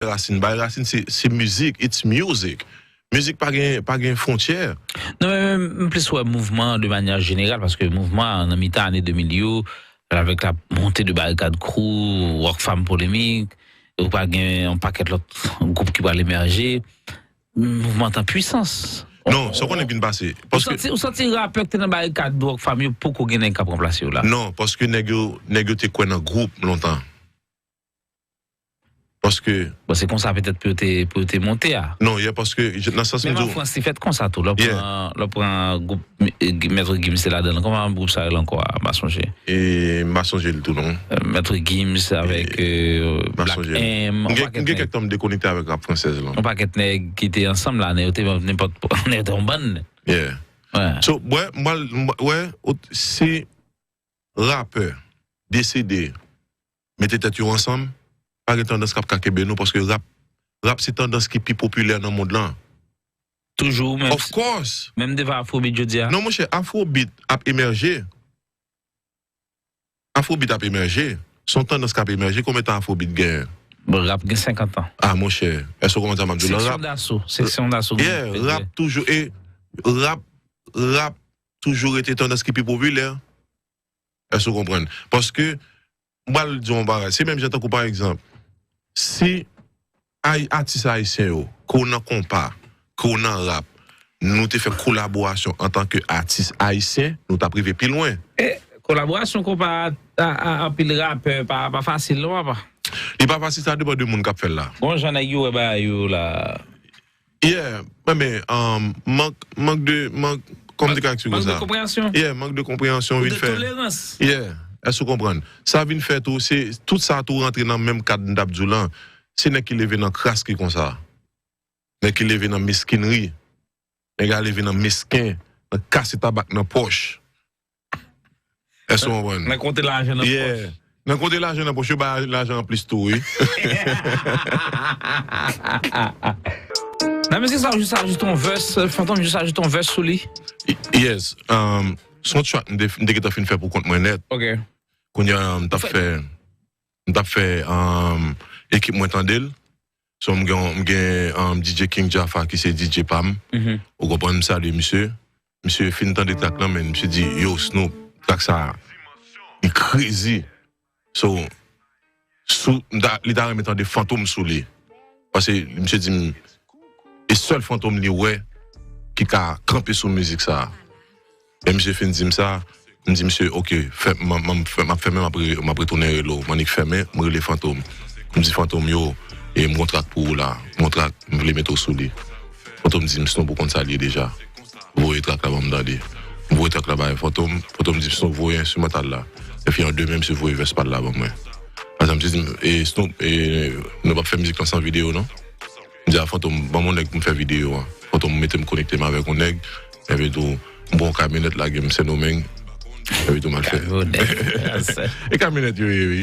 rasin bay rasin se mizik it's music mizik pa gen pa gen fontyè. Non men men m plis wè mouvman an de manyè jeneral paske mouvman an nan mitan ane 2000 yo avèk la monte de barikad krou rock fam polemik ou pral gen yon pakèt lòt gwoup ki pral emèje mouvman t an pwisans Non sa w konnen k vin pase paske Ou santi rapè k te nan barikad rock fam yo poko gen nèg k ap ranplase yo la? Non paske nèg yo nèg yo te kwè nan gwoup lontan Paske. Bon se konsa petèt pou yo te pou yo te monte a. Non yè paske nan sans m di w. Menm an Frans li fèt konsa tou lè w pran lè w pran gwoup Maitre Gims te ladan l kòman gwoup sa rele ankò a m pa sonje. E m pa sonje l tou non. Maitre Gims avèk Black M. M gen kèk tan m dekonekte avèk rap fransèz lan. Yon pakèt nèg ki te ansanm la nèg yo te nenpòt nèg yo te yon bann. Yeah So wè m pral wè si rapè deside mete tèt yo ansanm, pa gen tandans kap ka kenbe nou paske rap rap se tandans ki pi popilè nan mond lan. Toujou ou menm. Of course! Menm devan Afrobeat jodi a? Non monchè, Afrobeat ap emèje. Afrobeat ap emèje. Se yon tandans kap emèje. Konbyen tan Afrobeat genyen? Bon, rap gen 50 an. Ah monchè, èske ou konprann sa map di w lan? Seksyon daso, seksyon daso. Yeah, rap toujou e rap rap toujou rete tandans ki pi popilè. Èske ou konprann? Paske, m pral di w yon bagay, se menm jan tankou pa egzanp, si atis ayisyen yo, ke w nan konpa, ke w nan rap, nou te fè kolaborasyon antanke atis ayisyen, nou t ap rive pi lwen. E, kolaborasyon konpa a a anpil rapè pa fasil non papa? Li pa fasil, sa depan de moun k ap fè l la. Bon jan nèg yo wè bagay yo la. Yeah mwen men mank mank de mank kòmnikaktyou konsa. Mank de konpreyansyon. Yeah mank de konpreyansyon vin fè. Ou de tolerans. Yeah èske ou konprann. Sa vin fè tou se tout sa tou rantre nan menm kad m tap di w lan. Se nèg ki leve nan kras ki konsa. Nèg ki leve nan meskinri. Nèg a leve nan mesken, nan kase tabak nan pòch. Èske ou konprann? Nan konte lajan nan pòch. Yeah. Nan konte lajan nan pòch, yo bay lajan anplis tou wi. Nan mizik sa ou jis ajoute yon vès, Fantom jis ajoute yon vès sou li? Yes. Se yon track m te gentan fin fè pou kont mwen nèt. Ok. Kounya m t ap fè, m t ap fè ekip mwen tande l. So m gen m gen DJ King Jaffa ki se DJ pa m, ou konprann, m salye misye. Misye fin tande track lan men misye di yow Snoop track sa li krezi so sou m ta li ta renmen tande fantom sou li pase misye di m e sèl fantom li wè ki ka kanpe sou mizik sa. Lè misye fin dim sa, m di misye ok map fèmen map retounen rele w, m annik fèmen m rele Fantom m di Fantom yo m gon trak pou ou la, m vle mete w sou li Fantom dim snon pou w konn sa l ye deja voye trak la banm tande, m voye trak la bay Fantom, Fantom dim snon voye enstrimantal la, epi an demen misye voye vès pa l la ban mwen, misye dim snon nou pap fè mizik lan san video non. M di a Fantom, ban m on nèg pou m fè videyo a. Fantom mete m konekte m avèk on nèg, epitou m pran on kamyonèt lage m Sendomeng, epitou m al fè. E kamyonèt yo ye wi.